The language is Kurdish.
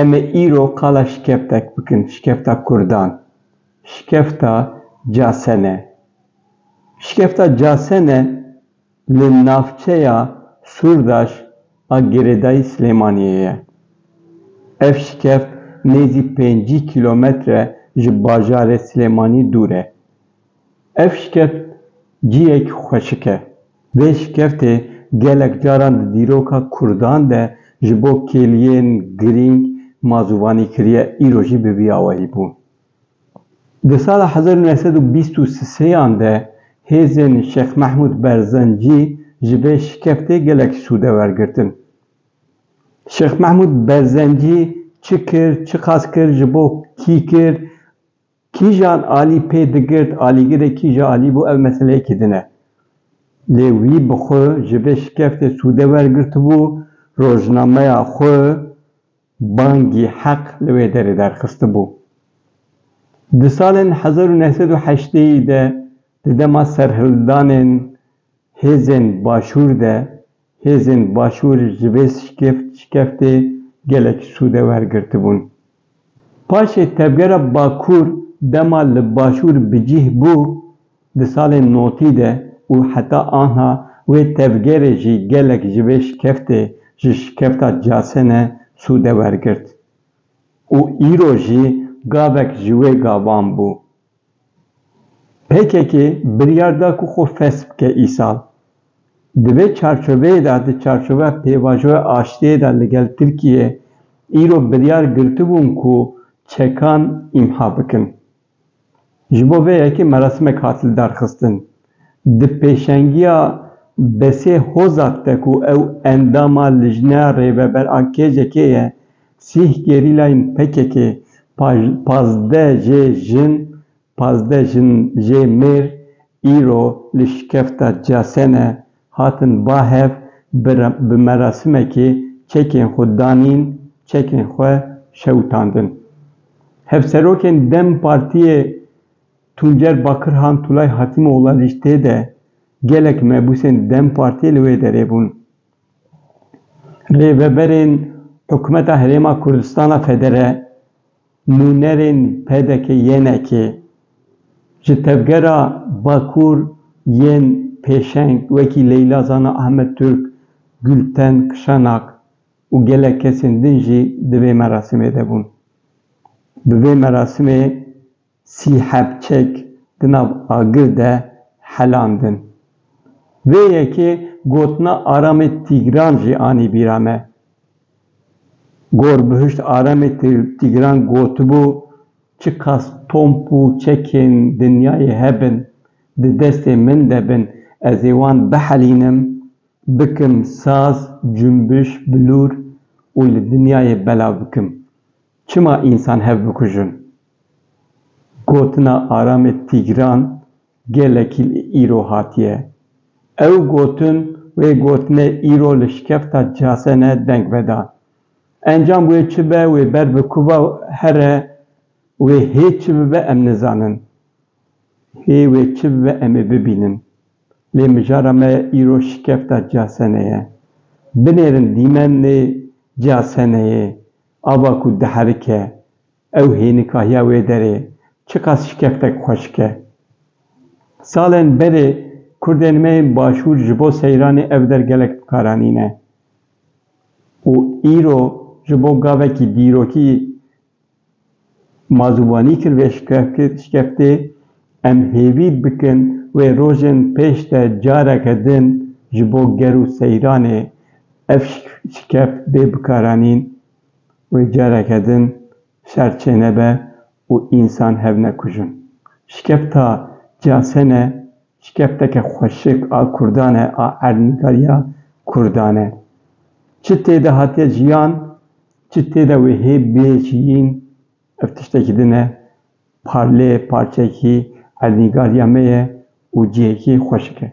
Em ê îro qala şikeftek bikin, şikefta kurdan. Şikefta casene. Şikefta casene li navçeya Sûrdaş a girêdayî Silêmaniyê ye. Ev şikeft nêzî pêncî kîlometre ji bajarê Silêmanî dûr e. Ev şikert cihek xweşik e. Vê şikertê gelek caran di dîroka Kurdan de ji bo kêliyên girîng mazûvanî kiriye îro jî bi vî awayî bû. Di sala hezar û neh sed û bîst û sêyan de hêzên Şêx Mehmûd Berzencî ji vê şikertê gelek sûde wergirtin. Şêx Mehmûd Berzencî çi kir, çiqas kir, ji bo kî kir? Kîjan alî pê digirt, alîgirê kîja alî bû ev meseleyekî din e. Lê wî bi xwe ji vê şikeftê sûde wergirtibû, rojnameya xwe Bangî Heq li wê derê derxistibû. Di salên hezar û neh sed û heşteyî de di dema serhildanên hêzên başûr de, Hêzên Başûr ji vê şikeftê gelek sûde wergirtibûn. Paşê tevgera Bakur dema li Başûr bi cîh bû di salên notî de û heta anha wê tevgerê jî gelek ji vê şikeftê ji şikefta Casene sûde wergirt û îro jî gavek ji wê gavan bû. Pkk biryar da ku xwe fesh bike îsal. Di vê çarçoveyê de, di çarçoveya pêvajoya aştiyê de li gel Tirkiyeyê îro biryar girtibûn ku çekan îmha bikin. Ji bo vê yekê merasimek hat lidarxistin. Di pêşengiya Besê Hozak de ku ew endama Lijneya Rêveber a KCK'ê ye, sîh gerîlayên PKK'ê pazdeh jê jin, pazdeh jin jê mêr îro li şikefta Casene hatin ba hev bi merasimekê çekên xwe danîn, çekên xwe şewitandin. Hevserokên dem Partiyê Tuncer Bakirhan Tulay Hatîmoğla lîsteyê de gelek mebûsên dem Partiyê li wê derê bûn. Rêveberên Hikûmeta Herêma Kurdistana Federe, nûnerên PDK-YNK'ê, ji tevgera Bakur yên pêşeng wekî Leyla Zana Ahmet Turk, Gulten Kişanak û gelek kesên din jî di vê merasîmê de bûn. Bi vê merasîmê. Sî heb çek di nav agir de helandin. Vê yekê gotina Aramê Tîgran jî anî bîra me. Gor Bihişt Aramê Tîgran gotibû, Çiqas tomp û çekên dinyayê hebin, di destê min de bin, ez ê wan bihelînim, bikim saz, cumbiş, bilûr û li dinyayê belav bikim. Çima însan hev bikujin? Gotina Aramê Tîgran gelekî li îro hatiye. Ew gotin wê gotinê îro li şikefta Casene deng veda. Encam wê çi be wê ber bi kuva here wê hê çi bibe em nizanin. Hê wê çi bibe em ê bibînin. Lê mijara me îro şikefta Casene ye. Binêrin dîmenê Caseneyê ava ku diherike Ew hênika ya wê derê çiqas şikeftek xwe şike. Salên berê kurdên me yên başûr ji bo seyranê ev der gelek bi kar anîne û îro ji bo gavekî dîrokî ma ziwanî kir vê şikeftê, em hêvî bikin wê rojên pêş de careke din ji bo ger û seyranê ev şikeft bê bikaranîn. wê careke din şer çênebe û însan hev nekujin. Şikefta CAS'en e, şikefteke xweşik a Kurdan e, a erdnîgariya Kurdan e. Çi tê de hatiye jiyan, çi tê de wê hê bêjiyîn, ev tiştekî din e, parlê parçeyekî erdnîgariya me ye û cihekî xweşik e.